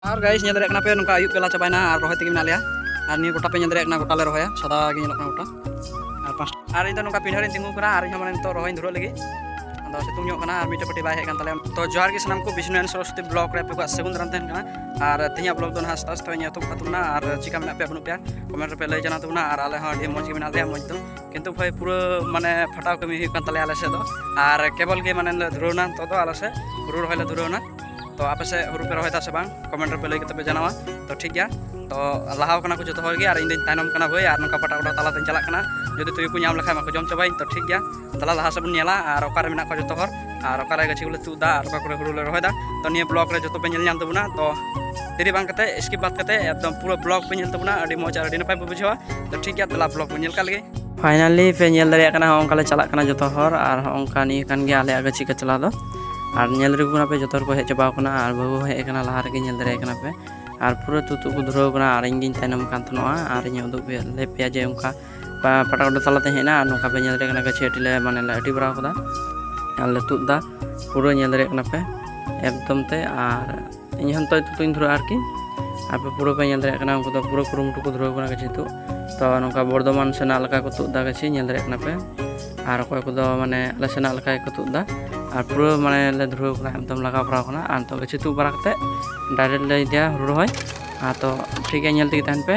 ᱟᱨ ᱜᱟᱭᱤᱥ ᱧᱮᱞ ᱫᱟᱲᱮᱭᱟᱜ ᱠᱟᱱᱟ ᱯᱮ ᱱᱚᱝᱠᱟ ᱟᱹᱭᱩᱵ ᱵᱮᱞᱟ ᱪᱟᱵᱟᱭᱱᱟ ᱟᱨ ᱨᱚᱦᱚᱭ ᱛᱮᱜᱮ ᱢᱮᱱᱟᱜ ᱞᱮᱭᱟ ᱟᱨ ᱱᱤᱭᱟᱹ ᱜᱚᱴᱟ ᱯᱮ ᱧᱮᱞ ᱫᱟᱲᱮᱭᱟᱜ ᱠᱟᱱᱟ ᱜᱚᱴᱟ ᱞᱮ ᱨᱚᱦᱚᱭᱟ ᱥᱟᱫᱟ ᱜᱮ ᱧᱮᱞᱚᱜ ᱠᱟᱱᱟ ᱜᱚᱴᱟ ᱟᱨ ᱯᱟᱸᱪ ᱟᱨ ᱤᱧ ᱫᱚ ᱱᱚᱝᱠᱟ ᱯᱤᱰᱷᱟᱹ ᱨᱤᱧ ᱛᱤᱸᱜᱩ ᱠᱟᱱᱟ ᱟᱨ ᱤᱧ ᱦᱚᱸ ᱢᱟᱱᱮ ᱱᱤᱛᱚᱜ ᱨᱚᱦᱚᱭ ᱫᱷᱩᱨᱟᱹᱜ ᱞᱟᱹᱜᱤᱫ ᱟᱫᱚ ᱥᱤᱛᱩᱝ ᱧᱚᱜ ᱠᱟᱱᱟ ᱟᱨ ᱢᱤᱫᱴᱮᱡ ᱯᱟᱹᱴᱤ ᱵᱟᱭ ᱦᱮᱡ ᱠᱟᱱ ᱛᱟᱞᱮᱭᱟ ᱛᱚ ᱡᱚᱦᱟᱨ ᱜᱮ ᱥᱟᱱᱟᱢ ᱠᱚ ᱵᱤᱥᱱᱩ ᱮᱱ ᱥᱚᱨᱚᱥᱚᱛᱤ ᱵᱞᱚᱜ ᱨᱮ ᱟᱯᱮ ᱠᱚᱣᱟᱜ ᱥᱟᱹᱜᱩᱱ ᱫᱟᱨᱟᱢ ᱛᱟᱦᱮᱱ ᱠᱟᱱᱟ ᱟᱨ ᱛᱮᱦᱮᱧᱟᱜ ᱵᱞᱚᱜ ᱫᱚ ᱱᱟᱦᱟᱜ ᱟᱥᱛᱮ ᱟᱥᱛᱮ ᱤᱧ ᱮᱛᱚᱦᱚᱵ ᱛᱟᱵᱚᱱᱟ ᱟᱨ ᱪᱤᱠᱟ ᱢᱮᱱᱟᱜ ᱯᱮᱭᱟ ᱵᱟᱹᱱᱩᱜ ᱯᱮᱭᱟ ᱠᱚᱢᱮᱱᱴ ᱨᱮᱯᱮ ᱞᱟᱹᱭ ᱡᱟᱱᱟᱣ ᱛᱟᱵᱚᱱᱟ ᱟᱨ ᱟᱞᱮ ᱦᱚᱸ ᱟᱹᱰᱤ ᱢᱚᱡᱽ ᱜᱮ ᱢᱮᱱᱟᱜ ᱞᱮᱭᱟ ᱢᱚᱡᱽ ᱫᱚ ᱠᱤᱱᱛᱩ ᱵᱷᱟᱭ ᱯᱩᱨᱟᱹ ᱢᱟᱱᱮ ᱯᱷᱟᱴᱟᱣ ᱠᱟᱹᱢᱤ ᱦᱩᱭᱩᱜ ᱠᱟᱱ ᱛᱟᱞᱮᱭᱟ ᱟᱞᱮ ᱥᱮᱫ ᱫᱚ ᱟᱨ ᱠᱮᱵᱚᱞ ᱜᱮ ᱢᱟᱱᱮ ᱞᱮ ᱫᱷᱩᱨᱟᱹᱣᱱᱟ ᱱᱤᱛᱚᱜ ᱫᱚ ᱟᱞᱮ ᱥᱮᱫ ᱦᱩᱲᱩ ᱨᱚᱦᱚᱭ ᱞᱮ ᱫᱷᱩᱨᱟᱹᱣᱱᱟ ᱛᱚ ᱟᱯᱮ ᱥᱮᱫ ᱦᱩᱲᱩ ᱯᱮ ᱨᱚᱦᱚᱭᱮᱫᱟ ᱥᱮ ᱵᱟᱝ ᱠᱚᱢᱮᱱᱴ ᱨᱮᱯᱮ ᱞᱟᱹᱭ ᱠᱟᱛᱮ ᱯᱮ ᱡᱟᱱᱟᱣᱟ ᱛᱚ ᱴᱷᱤᱠ ᱜᱮᱭᱟ ᱛᱚ ᱞᱟᱦᱟᱣ ᱠᱟᱱᱟ ᱠᱚ ᱡᱚᱛᱚ ᱦᱚᱲ ᱜᱮ ᱟᱨ ᱤᱧ ᱫᱚᱧ ᱛᱟᱭᱱᱚᱢ ᱠᱟᱱᱟ ᱵᱷᱟᱹᱭ ᱟᱨ ᱱᱚᱝᱠᱟ ᱯᱟᱴᱟ ᱯᱟᱴᱟ ᱛᱟᱞᱟ ᱛᱮᱧ ᱪᱟᱞᱟᱜ ᱠᱟᱱᱟ ᱡᱩᱫᱤ ᱛᱩᱭᱩ ᱠᱚ ᱧᱟᱢ ᱞᱮᱠᱷᱟᱱ ᱢᱟᱠᱚ ᱡᱚᱢ ᱪᱟᱵᱟᱭᱤᱧ ᱛᱚ ᱴᱷᱤᱠ ᱜᱮᱭᱟ ᱛᱟᱦᱞᱮ ᱞᱟᱦᱟ ᱥᱮᱫ ᱵᱚᱱ ᱧᱮᱞᱟ ᱟᱨ ᱚᱠᱟᱨᱮ ᱢᱮᱱᱟᱜ ᱠᱚᱣᱟ ᱡᱚᱛᱚ ᱦᱚᱲ ᱟᱨ ᱚᱠᱟᱨᱮ ᱜᱟᱹᱪᱷᱤ ᱠᱚᱞᱮ ᱛᱩᱫ ᱮᱫᱟ ᱟᱨ ᱚᱠᱟ ᱠᱚᱨᱮ ᱦᱩᱲᱩ ᱞᱮ ᱨᱚᱦᱚᱭᱮᱫᱟ ᱛᱚ ᱱᱤᱭᱟᱹ ᱵᱞᱚᱜ ᱨᱮ ᱡᱚᱛᱚ ᱯᱮ ᱧᱮᱞ ᱧᱟᱢ ᱛᱟᱵᱚᱱᱟ ᱛᱚ ᱫᱮᱨᱤ ᱵᱟᱝ ᱠᱟᱛᱮ ᱥᱠᱤᱯ ᱵᱟᱫ ᱠᱟᱛᱮ ᱮᱠᱫᱚᱢ ᱯᱩᱨᱟᱹ ᱵᱞᱚᱜ ᱯᱮ ᱧᱮᱞ ᱛᱟᱵᱚᱱᱟ ᱟᱹᱰᱤ ᱢᱚᱡᱽ ᱟᱹᱰᱤ ᱱᱟᱯᱟᱭ ᱯᱮ ᱵᱩᱡᱷᱟᱹᱣᱟ ᱛᱚ ᱴᱷᱤᱠ ᱜᱮᱭᱟ ᱛᱟᱦᱞᱮ ᱵᱞᱚᱜ ᱵᱚᱱ ᱧᱮᱞ ᱠᱟᱜ ᱞᱮᱜᱮ ᱯᱷᱟᱭᱱᱟᱞᱤ ᱯᱮ ᱧᱮᱞ ᱫᱟᱲᱮᱭᱟᱜ ᱠᱟᱱᱟ ᱦᱚᱸᱜᱼᱚᱝᱠᱟ ᱞᱮ ᱪᱟᱞᱟᱜ ᱠᱟᱱᱟ ᱡᱚᱛᱚ ᱦᱚᱲ ᱟᱨ ᱦᱚᱸᱜᱼᱚᱝᱠᱟ ᱱᱤᱭᱟᱹ ᱠᱟᱱ ᱜᱮᱭᱟ ᱟᱞᱮᱭᱟᱜ ᱜᱟᱹᱪᱷᱤ ᱠᱟᱪᱞᱟ ᱫᱚ ᱟᱨ ᱧᱮᱞ ᱨᱮᱜᱩ ᱠᱟᱱᱟ ᱯᱮ ᱡᱚᱛᱚ ᱦᱚᱲ ᱠᱚ ᱦᱮᱡ ᱪᱟᱵᱟᱣ ᱠᱟᱱᱟ ᱟᱨ ᱵᱟᱹᱦᱩ ᱦᱮᱡ ᱠᱟᱱᱟ ᱞᱟᱦᱟ ᱨᱮᱜᱮ ᱧᱮᱞ ᱫᱟᱲᱮᱭᱟᱜ ᱠᱟᱱᱟ ᱯᱮ ᱟᱨ ᱯᱩᱨᱟᱹ ᱛᱩᱛᱩ ᱠᱚ ᱫᱷᱩᱨᱟᱹᱣ ᱠᱟᱱᱟ ᱟᱨ ᱤᱧ ᱜᱤᱧ ᱛᱟᱭᱱᱚᱢ ᱠᱟᱱ ᱛᱟᱦᱮᱱᱚᱜᱼᱟ ᱟᱨ ᱤᱧ ᱩᱫᱩᱜ ᱞᱮ ᱯᱮᱭᱟ ᱡᱮ ᱚᱱᱠᱟ ᱯᱟᱴᱟ ᱠᱚᱰᱚ ᱛᱟᱞᱟᱛᱮ ᱦᱮᱡ ᱮᱱᱟ ᱟᱨ ᱱᱚᱝᱠᱟ ᱯᱮ ᱧᱮᱞ ᱫᱟᱲᱮᱭᱟᱜ ᱠᱟᱱᱟ ᱜᱟᱹᱪᱷᱤ ᱟᱹᱴᱤ ᱞᱮ ᱢᱟᱱᱮ ᱞᱮ ᱟᱹᱴᱤ ᱵᱟᱲᱟᱣ ᱠᱟᱫᱟ ᱟᱨ ᱞᱮ ᱛᱩᱫ ᱫᱟ ᱯᱩᱨᱟᱹ ᱧᱮᱞ ᱫᱟᱲᱮᱭᱟᱜ ᱠᱟᱱᱟ ᱯᱮ ᱮᱠᱫᱚᱢ ᱛᱮ ᱟᱨ ᱤᱧ ᱦᱚᱸ ᱱᱤᱛᱚᱜ ᱛᱩᱛᱩᱧ ᱫᱷᱩᱨᱟᱹᱜᱼᱟ ᱟᱨᱠᱤ ᱟᱯᱮ ᱯᱩᱨᱟᱹ ᱯᱮ ᱧᱮᱞ ᱫᱟᱲᱮᱭᱟᱜ ᱠᱟᱱᱟ ᱩᱱᱠᱩ ᱫᱚ ᱯᱩᱨᱟᱹ ᱠᱩᱨᱩᱢᱩᱴᱩ ᱠᱚ ᱫᱷᱩᱨᱟᱹᱣ ᱠᱟᱱᱟ ᱜᱟᱹᱪᱷᱤ ᱛᱩᱫ ᱛᱚ ᱱᱚᱝᱠᱟ ᱵᱚᱨᱫᱷᱚᱢᱟᱱ ᱥᱮᱱᱟᱜ ᱞᱮᱠᱟ ᱠᱚ ᱛᱩᱫ ᱮᱫᱟ ᱜᱟᱹᱪᱷᱤ ᱧᱮᱞ ᱫᱟᱲᱮᱭᱟᱜ ᱠᱟᱱᱟ ᱯᱮ ᱟᱨ ᱚᱠᱚᱭ ᱠᱚᱫᱚ ᱢᱟᱱᱮ ᱟᱞᱮ ᱥᱮᱱᱟᱜ ᱞᱮᱠᱟ ᱜᱮᱠᱚ ᱛᱩᱫ ᱮᱫᱟ ᱟᱨ ᱯᱩᱨᱟᱹ ᱢᱟᱱᱮ ᱞᱮ ᱫᱷᱩᱨᱟᱹᱣ ᱠᱟᱱᱟ ᱮᱠᱫᱚᱢ ᱞᱟᱜᱟᱣ ᱵᱟᱲᱟᱣ ᱠᱟᱱᱟ ᱟᱨ ᱱᱤᱛᱚᱜ ᱜᱟᱹᱪᱷᱤ ᱛᱩᱫ ᱵᱟᱲᱟ ᱠᱟᱛᱮᱫ ᱰᱟᱭᱨᱮᱠᱴ ᱞᱮ ᱤᱫᱤᱭᱟ ᱦᱩᱲᱩ ᱨᱚᱦᱚᱭ ᱟᱨ ᱛᱚ ᱴᱷᱤᱠ ᱜᱮᱭᱟ ᱧᱮᱞ ᱛᱮᱜᱮ ᱛᱟᱦᱮᱱ ᱯᱮ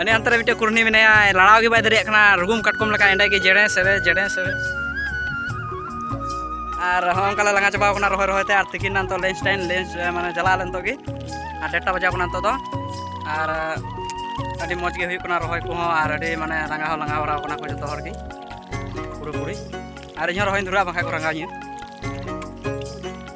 ᱟᱹᱱᱤ ᱟᱱᱛᱮ ᱨᱮ ᱢᱤᱫᱴᱮᱱ ᱠᱩᱨᱱᱤ ᱢᱮᱱᱟᱭᱟ ᱞᱟᱲᱟᱣ ᱜᱮ ᱵᱟᱭ ᱫᱟᱲᱮᱭᱟᱜ ᱠᱟᱱᱟ ᱨᱩᱜᱩᱢ ᱠᱟᱴᱠᱚᱢ ᱞᱮᱠᱟ ᱮᱸᱰᱮ ᱜᱮ ᱡᱮᱲᱮ ᱥᱮᱨᱮ ᱡᱮᱲᱮ ᱥᱮᱨᱮ ᱟᱨ ᱦᱚᱸ ᱚᱱᱠᱟ ᱞᱮ ᱞᱟᱸᱜᱟ ᱪᱟᱵᱟᱣ ᱠᱟᱱᱟ ᱨᱚᱦᱚᱭ ᱨᱚᱦᱚᱭ ᱛᱮ ᱟᱨ ᱛᱤᱠᱤᱱ ᱱᱤᱛᱚᱜ ᱞᱮᱱᱪ ᱴᱟᱭᱤᱢ ᱞᱮᱱᱪ ᱢᱟᱱᱮ ᱪᱟᱞᱟᱣ ᱞᱮᱱ ᱛᱚᱜᱮ ᱟᱨ ᱰᱮᱴᱟ ᱵᱟᱡᱟᱣ ᱠᱟᱱᱟ ᱱᱤᱛᱚᱜ ᱫᱚ ᱟᱨ ᱟᱹᱰᱤ ᱢᱚᱡᱽ ᱜᱮ ᱦᱩᱭᱩᱜ ᱠᱟᱱᱟ ᱨᱚᱦᱚᱭ ᱠᱚᱦᱚᱸ ᱟᱨ ᱟᱹᱰᱤ ᱢᱟᱱᱮ ᱞᱟᱸᱜᱟ ᱦᱚᱸ ᱞᱟᱸᱜᱟ ᱵᱟᱲᱟᱣ ᱠᱟᱱᱟ ᱠᱚ ᱡᱚᱛᱚ ᱦᱚᱲ ᱜᱮ ᱯᱩᱨᱟᱹᱯᱩᱨᱤ ᱟᱨ ᱤᱧᱦᱚᱸ ᱨᱚᱦᱚᱭ ᱫᱷᱩᱨᱟᱹᱜᱼᱟ ᱵᱟᱝᱠᱷᱟᱡ ᱠᱚ ᱨᱟᱸᱜᱟᱣ ᱤᱧᱟᱹ